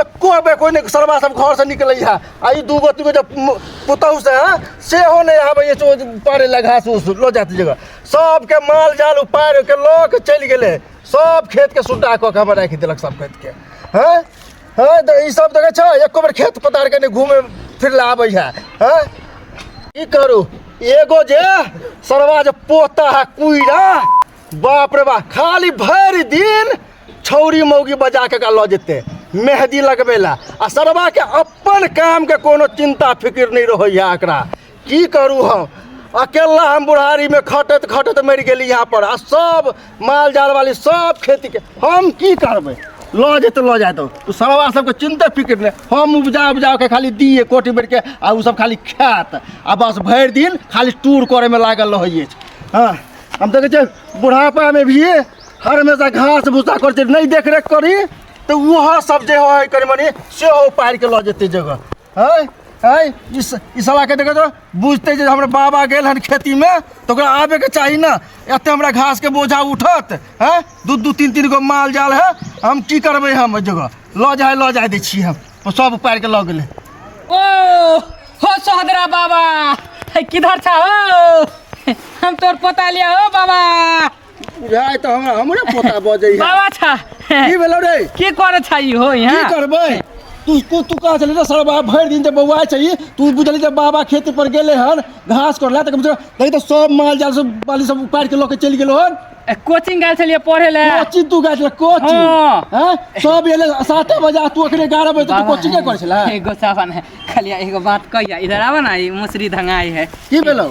एको बेर कोइ नहि सरबा सब घरसँ निकलैया आ ई दूगो तीगो जे पुतहु से हँ सेहो नहि आबैया पारे लए घास उस लो जात जगह सबके माल जाल उपारि के लऽ के चलि गेलै सब खेतके सुड्डा कऽ के हमर राखि देलक सब खेतके हँ हँ तऽ ई सब देखै छऽ एको बेर खेत पतारके नहि घूमे फिर लए आबै है हँ की करू एगो जे सरवा जे पोता है कुइरा बाप रे बाप खाली भरि दिन छौरी मौगी बजा कऽ एकरा लऽ जेतै मेहदी लगबै लए आ सरबाके अपन कामके कोनो चिन्ता फिकिर नहि रहैए एकरा की करू हम अकेला हम बुढ़ारीमे खटैत खटैत मरि गेली यहाँ पर आ सब माल जाल वाली सब खेतीके हम की करबै लऽ जेतै लऽ जाए तऽ ओ सरबा सबके चिन्ते फिकिर नहि हम उपजा उपजा कऽ खाली दिए कोटी बेरके आ ओ सब खाली खायत आ बस भरि दिन खाली टूर करैमे लागल रहै अछि हँ हम देखै छियै बुढ़ापामे भी हर हमेशा घास भूसा करै छै नहि देख रेख करी तऽ वहाँ सब जे है कनी मनी सेहो पार के लऽ जेतै जगह है है ई स- ई सलाह के देखो तो बुझते जे हमर बाबा गेल हन खेती में तो ओकरा आबे के चाही ना एते हमरा घास के बोझा उठत है दू दू तीन तीन गो माल जाल है हम की करबै हम ओहि जगह लऽ जाए लऽ जाए दै छी हम ओ सब पार के लऽ गेलै ओ हो सोहदरा बाबा है किधर छा हो हम तोर पोता लिया हो बाबा बुझाय तऽ हमरा हमरे पोता बजै है बाबा छा की भेलौ रे की करे छा ई हो की यहाँ करबै तू तू तू कहाँ चले सर बाबा भरि दिन जे बौआ छै ई, तू बुझली जे बाबा खेत पर गेले हन घास करला तक तक तो सब माल जाल सब बाली सब उपाड़ के लऽ के चलि गेलो हन ए, कोचिंग गेल छलियै पढ़े ले कोची तू गाछ ले कोची हाँ। हैं सब एले साते बजे आ तू अखने 11 बजे तक बाबा, कोची के करै छला एगो सावन है खाली एगो बात कहिया इधर आवा ना ई मुसरी धंगाई है की भेलौ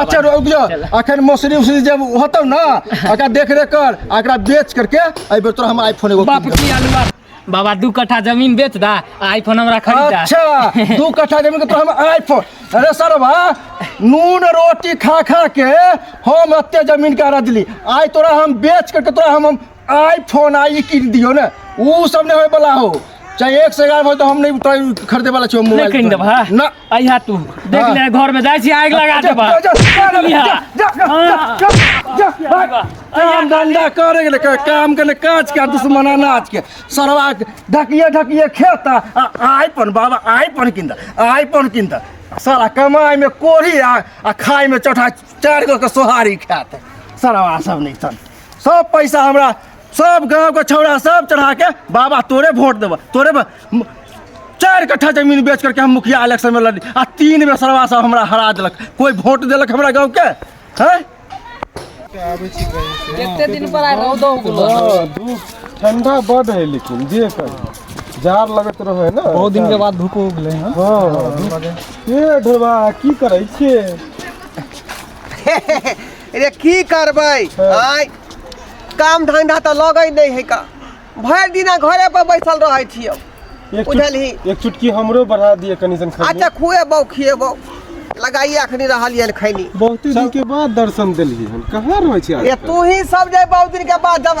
अच्छा रुक जो अखन मौसरी उसरी जब होतौ ना अगर देख रेख कर आ एकरा बेच करके एहि बेर तोरा हम आईफोन एगो बाप कीन देबौ। की अलुआ बाबा दू कट्ठा जमीन बेच दा आ आईफोन हमरा खरीद दा अच्छा दू कट्ठा जमीन के तो हम आईफोन अरे सरवा नून रोटी खा खा के हम एते जमीन के रदली आइ तोरा हम बेच करके तोरा हम हम आईफोन आई किन दियो ना ऊ सब नहीं होए वाला हो चाहे एक से एगारह हो तो हम नहीं तो खरीदे वाला छो मोबाइल लेकिन देबा ना आइहा तू देख हाँ। ले घर में जाय छी आग लगा जा, देबा जा, जा, जा, इहा। जा, जा, हाँ। जा, जा, जा, भाग। काम धंधा करे गेले का- काम के काज के दुश्मन अनाज के सरवा के ढकिए ढकिए खेता आ आईफोन बाबा आईफोन किन दा आईफोन किन दा साला कमाई में कोढ़ी आ आ खाई में चौठा चार गो के सोहारी खात सरवा सब नहीं सन सब पैसा हमरा सब गांव के छौड़ा सब चढ़ा के बाबा तोरे वोट देबा तोरे बा- म- चार कट्ठा जमीन बेच करके हम मुखिया इलेक्शन में लड़ी आ तीन बेर सरवा सब हमरा हरा देलक कोई वोट देलक हमरा गांव के हैं एते दिन पर आइ रौदो उगलो हाँ, धूप ठंडा बड है लेकिन जे कर जार लगत रहे ना बहुत दिन के बाद धूप उगले हैं हाँ धूप- ये ढोबा की करे छे रे की करबै आय काम धंधा तऽ लगै नहि है का भरि दिना घरे पर बैसल रहै छियौ एक चुट- बुझलही एक चुटकी हमरो बढ़ा दिए कनी सन खा अच्छा खुएबौ खिएबौ लगाइए अखनी रहल ये खैनी बहुत दिन के बाद दर्शन देलिए हन कहाँ रहै छी ए आज तू ही सब जे बहुत दिन के बाद जब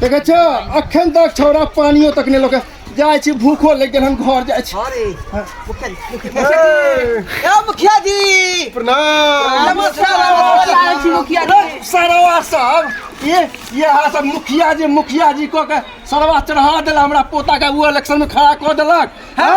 देखै छो अखन तक छौड़ा पानियो तक नहि लोके जाइ छी भूखो लागि गेल हम घर जाइ छी अरे मुखिया जी मुखिया जी ए मुखिया जी प्रणाम नमस्कार नमस्कार छी मुखिया जी सरवा साहब ये ये हा सब मुखिया जी मुखिया जी को के सरवा चढ़ा देला हमरा पोता के वो इलेक्शन में खड़ा कऽ देलक हैं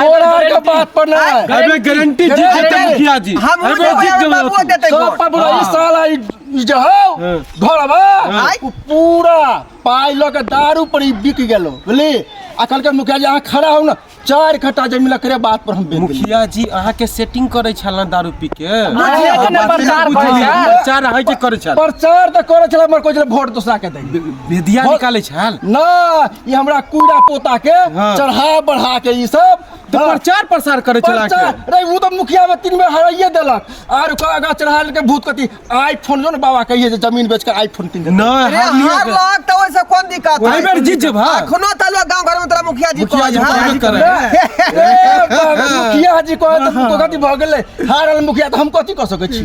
तोरा के बात पर ना अबे गारंटी जीत जेते मुखिया जी हम वो अबे जीत देबे बाबू जेबे देते सब पर बोला ई साला ई ई जे हो हाँ। घरवा आय। उ पूरा पाई लग दारू पर ई बिक गेलो बुझली आ कल के मुखिया जी अहाँ खड़ा हो ना चार घंटा जमीन लकरे बात पर हम बेच देली मुखिया जी अहाँ के सेटिंग करे छल ना दारू पी के मुखिया जी ने प्रचार करे छल। प्रचार अहाँ जे करे छल प्रचार तऽ करे छला मर कोइ वोट दोसरा के दै बेदिया निकाले छल ना ई हमरा कूड़ा पोता के हाँ। चढ़ा बढ़ा के ई सब तो प्रचार प्रसार करे चला के प्रचार- रे ऊ तो मुखिया में तीन बेर हराइए देलक आर ओकर आगा चढ़ा के भूत कथी आईफोन जो ने बाबा कहिए जे जमीन बेच के आईफोन तीन देलक। नहीं अरे हार लिया हार के- लग तो ओइसे कोन दिक्कत वही बेर जीत जेबा। अखनो त लोग गांव घर में तोरा मुखिया जी मुखिया जी कहत हन। कहबे करे। रे बाबा, मुखिया जी कहे तो कथी भऽ गेलै हारल मुखिया तऽ हम कथी कऽ सकै छी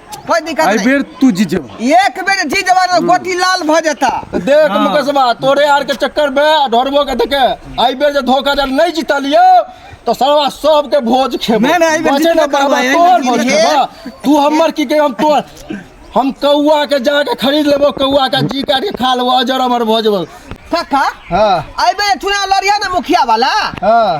कोई दिक्कत एहि नहीं बेर तू जीत जेबह एक बेर जी जवान गोटी लाल भ जाता देख मुकेशवा तोरे आर के चक्कर में आ ढोरबो के देखे आई बेर जे धोखा जब नहीं जीता लियो तो सरवा सब के भोज खेबो नहीं, नहीं, आई बेर बचे जीतबे ना करबा, बाबा आई बेर तोर भोज जीतबे। खेबा तू हमर की के हम तोर हम कौआ के जाके खरीद लेबो कौआ का जी काट के खा लेबो अजर अमर भोज काका हां आई बेर चुनाव लड़िया ना मुखिया वाला हां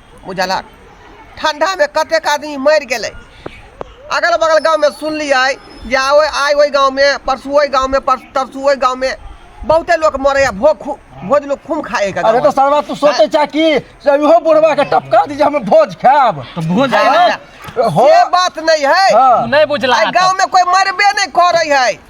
बुझलक ठण्डामे कतेक आदमी मरि गेलै अगल बगल गाँवमे सुनलियै जे आइ आइ ओहि गाँवमे परसू ओहि गाँवमे तरसू ओहि गाँवमे बहुते लोक मरैए भोग खूब भोज लोक खूब खाइए अरे तऽ सरवा तू सोचै छह कि से इहो बुढ़बाके टपका दी जे हम भोज खायब तऽ भोज हो बात नहि है हाँ। नहीं बुझला गाँव में कोई मरबे नहीं करे है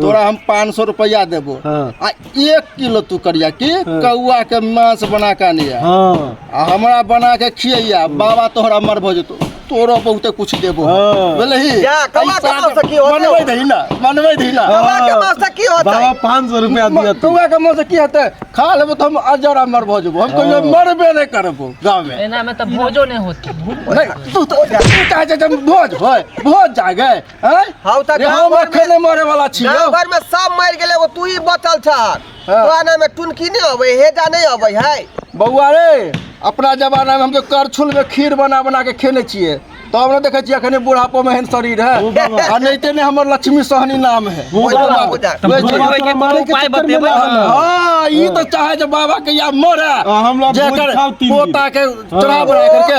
तोरा हम पाँच सौ रुपया देबो हाँ। आ एक किलो तू करिया की हाँ। कौआ के मांस बना के आनिया हाँ। आ हमरा बना के खिया बाबा तोहरा मर भो जतो तोरो बहुते कुछ देबो हाँ। बोले ही जा, कौआ के मांस से की होते? मनवे दही ना मनवे दही ना कौआ के मांस से की होते? बाबा पाँच सौ रुपया दिया तू कौआ के मांस से की होते खा लेबो तो हम अजरा मर भो जबो हम कहियो मरबे नहीं करबो गांव में एना में तो भोजो नहीं होती नहीं तू तो तू कहे जे हम भोज होय भोज जागे हैं हौ त रे हम अखन नै मरे वाला छी गांव भर में सब मर गेले एगो तू ही बचल छ हाँ। तोरा नाम में टुनकी नहीं अबै हेजा नहीं अबै है बौआ रे अपना जमाना में हम तो करछुल में खीर बना बना के खेने छिए तब न देखे छिए अखने बुढ़ापो में हेन शरीर है ओ बाबा। आ नहीं ते ने हमर लक्ष्मी सहनी नाम है ओ ओइ बाबा। बाबा बुझा। तब ओइ भोजन बाबा। होइके कोनो मारे के उपाय चक्कर में बतेबै ना ने। आउ। हां ई तो चाहे जे बाबा के या मरे हाँ, हम लोग भोज जेकर खाउ तीन दिन। पोता के चढ़ा बना करके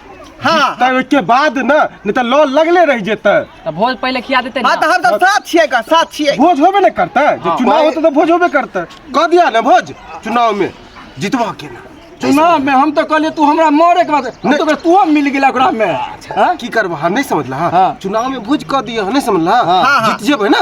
हाँ तब ओहिके बाद न नहि तऽ लॉ लगले रहि जेतै तऽ भोज पहिले खिया देते हाँ ना तो हम तो साथ छिए का साथ छिए भोज होबे ने करतै जे हाँ। चुनाव होतै तऽ भोज होबे करतै कह दिया ने भोज चुनाव में जितबा के ना चुनाव में हम तो कहलिए तू हमरा मारे के बाद हम नहीं। तो कहलिए तू मिल गेला ओकरा में हाँ? की करबह हम नहीं समझला हाँ। चुनाव में भोज कह दिया नहीं समझला हाँ, हाँ। जीत जेबै ना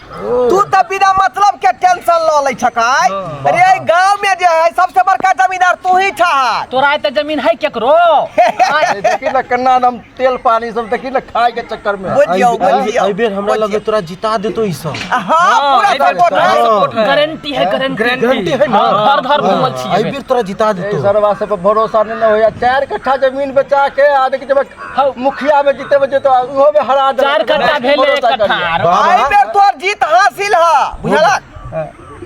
तू तऽ बिना मतलब के टेंशन लऽ लै छकाय अरे एहि गांव में जे है सबसे बड़का जमींदार तू ही ठहर तोरा एते जमीन है केकरो ए, देखी ना कन्ना हम तेल पानी सब देखी ना खाए के चक्कर में बुझियो बुझियो एहि बेर हमरा लगे तोरा जिता देतो ई सब हां पूरा सपोर्ट है सपोर्ट है गारंटी है गारंटी गारंटी है ना घर घर घूमल छी एहि बेर तोरा जिता ए, देतो सरवा सब पर भरोसा नहीं ना होया चार कट्ठा जमीन बेचा के आ देखी जब हौ मुखिया में जीते में जीते उहो में हरा दे चार कट्टा भेले एक कट्टा आर। आई बेर तोर जीत हासिल ह बुझलक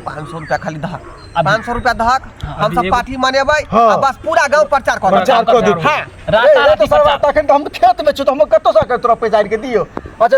पाँच सौ रुपया खाली धक पाँच सौ रुपया धक हम सब पार्टी मनेबै हाँ। आ बस पूरा गांव प्रचार करबै प्रचार कर दे हाँ। राता राती प्रचार तखन तो हम खेत में छी तो हम कत्तो से तोरा पैसा के दियो अच्छा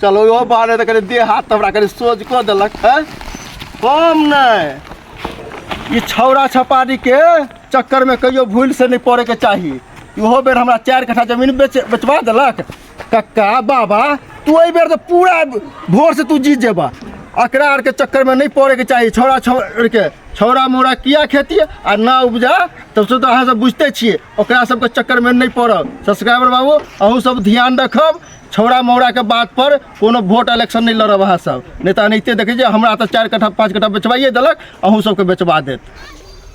चलो ओ बारे तऽ कनि देह हाथ हमरा कनि सोझ कऽ देलक है कम नहि ई छौड़ा छपारीके चक्करमे कहियो भूल से नहि पड़ैके चाही इहो बेर हमरा चारि कट्ठा जमीन बेच बेचवा देलक कक्का बाबा तू एहि बेर तऽ पूरा भोर से तू जीत जेबा एकरा आरके चक्करमे नहि पड़ैके चाही छौड़ा छौड़के छौड़ा मौड़ा किया खेती आ ना उपजा तब से तऽ अहाँ सब बुझते छियै ओकरा सबके चक्करमे नहि पड़ब सब्सक्राइबर बाबू अहूँ सब ध्यान रखब छौड़ा मौड़ाके बात पर कोनो वोट इलेक्शन नहि लड़ब अहाँ सब नहि तऽ एनाहिते देखै छियै हमरा तऽ चारि कट्ठा पाँच कट्ठा बेचबाइए देलक अहूँ सबके बेचबा देत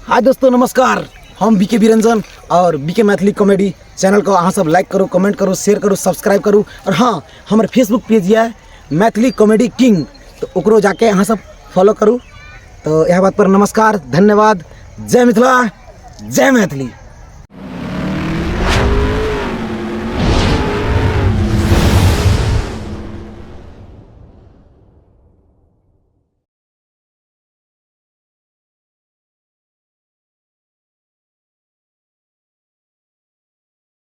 हाय दोस्तों नमस्कार हम बीके बिरंजन और बीके मैथिली कॉमेडी चैनल को अहाँ सब लाइक करू कमेंट करू शेयर करू सब्सक्राइब करू और हाँ हमर फेसबुक पेज यऽ मैथिली कॉमेडी किंग तऽ ओकरो जाके अहाँ सब फॉलो करू तऽ इएह बात पर नमस्कार धन्यवाद जय मिथिला जय मैथिली